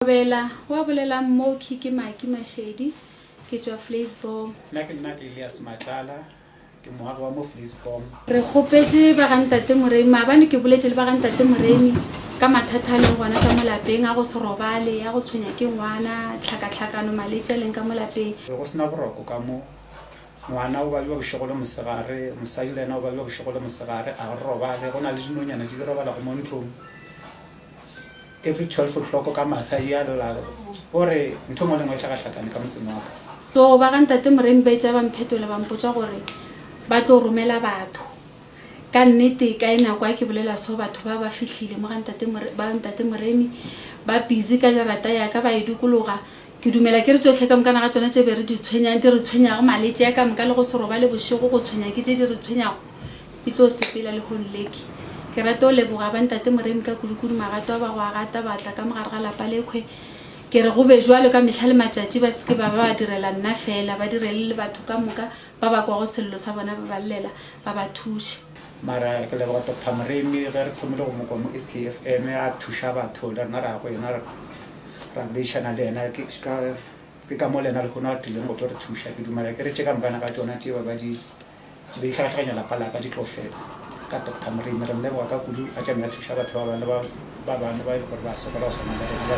Kgobela, Wa bolelang Moki ke Maki Mashedi, ke tšwa Vleisbom. Nna ke nna Elias Matlala, ke moagi wa mo Vleisbom. Re kgopetše ba ga Ntate Moremi, maabane ke boletše le ba ga Ntate Moremi ka mathata a leng gona ka mo lapeng, a go se robale, a go tshwenya ke ngwana, tlhakatlhakano, maletši a leng ka mo lapeng. Be go se na boroko ka mo. Ngwana o babja bošego le mosegare, mosadi le yena o babja bošego le mosegare, a re robale, go na le dinonyana di di robalago mo ntlong. Every twelve o'clock ka masa e a lla, o re ntho engwe le engwe e hlakahlakane ka motseng wa ka. So ba ga Ntate Moremi ba itša ba mphetola ba mpotša gore ba tlo romela batho. Ka nnete ka e nako ha ke bolela so batho ba ba fihlile mo ga Ntate Moremi, ba Ntate Moremi ba busy ka jarata ya ka ba e dukologa, Ke dumela ke re tšohle ka moka naga tšona tše be re di tshwenyang, di re tshwenyago, maletše a ka moka le go se robale bošego, go tshwenya ke tše di re tshwenyago. Ke tlo sepela lehono leke. Ke rata go leboga Bantate Moremi ka kudukudu magato a ba go a gata ba tla ka mogare ga lapa lekhwe. Ke re go be bjalo ka mehla le matšatši, ba se ke ba ba ba direla nna feela, ba direle le batho ka moka ba ba kwago sello sa bona ba ba llela, ba ba thuše. Mara ke leboga Doctor Moremi ge re thomile go mo kwa mo SKFM a thuša batho le rena ra ya go yena. ra boledišana le yena ke ka ke ka mo le yena le kgone a tlileng go tlo re thuša ke dumela ke re tše ka mpana ka tšona tše ba ba di be di hlagahlaganya lapa la ka di tlo fela ka doctor moremi re mmeboga ka kudu a tšamela thuša batho ba bane ba ba bane ba e le gore ba sokola go swana le rena ba